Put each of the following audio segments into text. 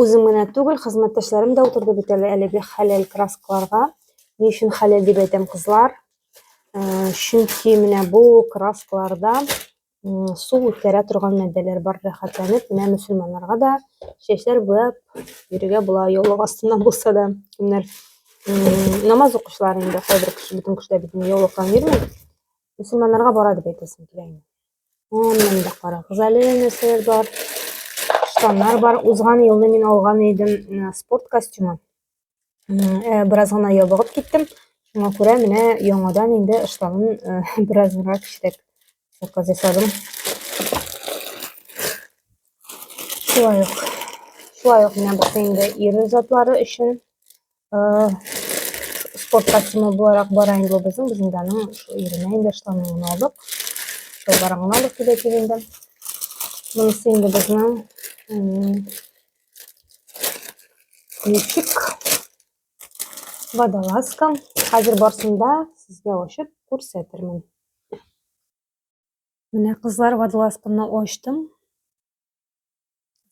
Үзем генә түгел, хезмәттәшләрем дә утырды бит әле әлеге хәләл краскаларга. Ни өчен хәләл дип әйтәм, кызлар? Чөнки менә бу краскаларда су үткәрә торган матдәләр бар рәхәтләнеп менә мөселманнарга да чәчләр буяп йөрергә була яулык астыннан булса да кемнәр намаз укучылар инде кайбер кеше бөтен кешеләр бит инде яулыктан йөрми мөселманнарга бара дип әйтәсем килә инде Аннан да карагыз әле нәрсәләр бар. Штаннар бар. Узган елны мин алган идем э, спорт костюмы. Э, бераз гына ябыгып киттем. Шуңа күрә менә яңадан инде штанын э, бераз гына кичтек. Заказ ясадым. Шулай ук. Шулай ук менә бу инде ир затлары өчен спорт костюмы буларак бара инде ул безнең без инде аның иренә инде штанын алдык шулбарыңны алып килә дип инде монысы инде безнең ютик водолазка хәзер барсында сезгә ачып күрсәтермен менә кызлар водолазканы ачтым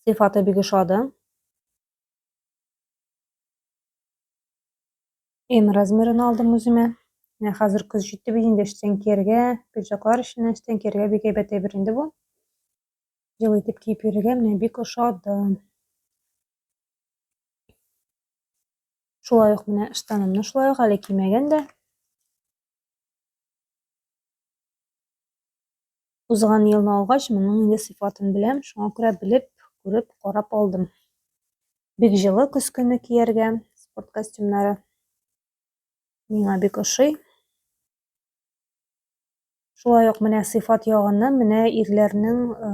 зифата бик ошады М размерын алдым үземә. Менә хәзер көз җитте бит инде эштән кияргә, пиджаклар өчен эштән кияргә бик әйбәт әйбер инде бу. Җылы итеп киеп йөрергә менә бик ошады. Шулай ук менә штанымны шулай ук әле кимәгән дә. Узган елны алгач, моның инде сыйфатын беләм, шуңа күрә белеп, күреп, карап алдым. Бик җылы көз көне кияргә спорт костюмнары. Миңа бик ошый. Шулай ук менә сыйфат ягыннан менә ирләрнең э,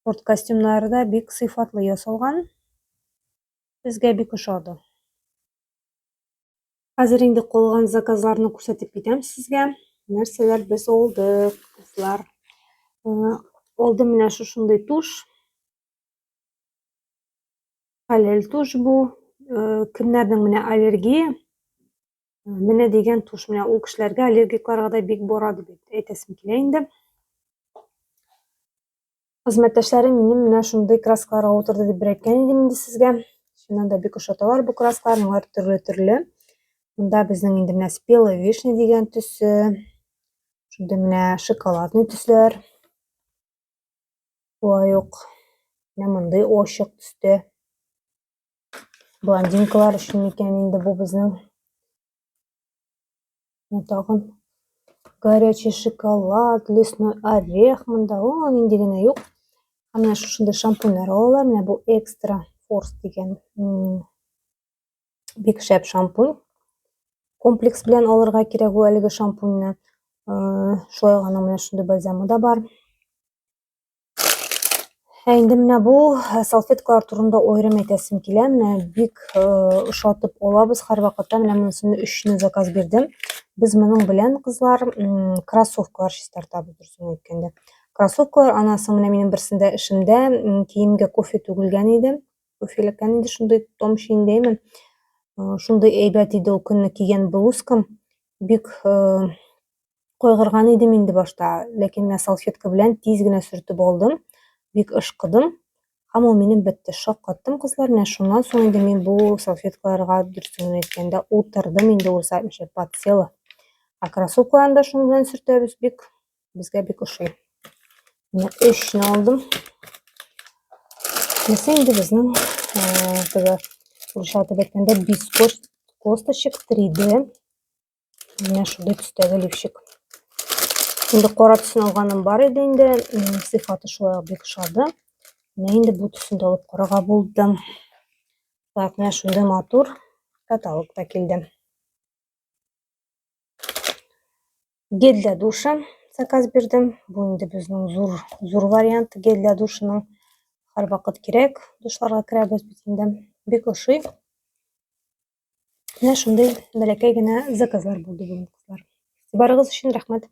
спорт костюмнары да бик сыйфатлы ясалган. Безгә бик ошады. Хәзер инде калган заказларны күрсәтеп китәм сезгә. Нәрсәләр без алдык, кызлар. Алдым менә шушындый туш. Хәләл туш бу. Кемнәрнең менә аллергия? Менә дигән туш. Менә ул кешеләргә аллергикларга да бик барады бит. Әйтәсем килә инде. Хезмәттәшләрем минем менә шундый краскаларга утырды дип бер әйткән идем инде сезгә. Чыннан да бик ошаталар бу краскалар, алар төрле-төрле. Монда безнең инде менә спелый вишня дигән төсе. Шундый менә шоколадный төсләр. Болай ук менә мондый очык төстә. Блондинкалар өчен микән инде бу безнең Ну, тагын горячий шоколад, лесной орех монда. О, нинди генә юк. Ә менә шушында шампуньлар алалар. Менә бу экстра форс дигән бик шәп шампунь. Комплекс белән алырга кирәк ул әлеге шампуньны. Э, шулай гына менә шундый бальзамы да бар. Ә инде менә бу э, салфеткалар турында аерым әйтәсем килә. Менә бик э, ошатып алабыз һәрвакытта. Менә монысыны өчне заказ бирдем. Без моның белән кызлар кроссовкалар чистартабыз дөресен әйткәндә. Кроссовкалар анасы менә минем берсендә эшемдә киемгә кофе түгелгән иде. Кофеләккән иде шундый том шиендәйме. Э, шундый әйбәт иде ул көнне кигән блузкам. Бик Кайгырган идем инде башта, ләкин менә салфетка белән тиз генә сөртеп алдым. Бик ышкыдым. Һәм ул минем бетте. Шаккаттым кызлар. Менә шуннан соң инде мин бу салфеткаларга дөресен әйткәндә утырдым инде ул сәтмичә подсела. А кроссовкаларны да шуның белән сөртәбез бик. Безгә бик ошый. Менә өчне алдым. Нәрсә инде безнең теге урысча атап әйткәндә бискост косточек 3D Менә шундый төстәге лифчик. Инде кара төсен алганым бар иде инде, сыйфаты шулай ук бик ошады. Менә инде бу төсен дә алып карарга булдым. Так, менә шундый матур каталог та килде. Гель для душа заказ бирдем. Бу инде безнең зур зур вариант гель для душының һәрвакыт кирәк. Душларга керәбез бит инде. Бик ошый. Менә шундый бәләкәй генә заказлар булды бүгін кызлар. Барыгыз өчен рәхмәт.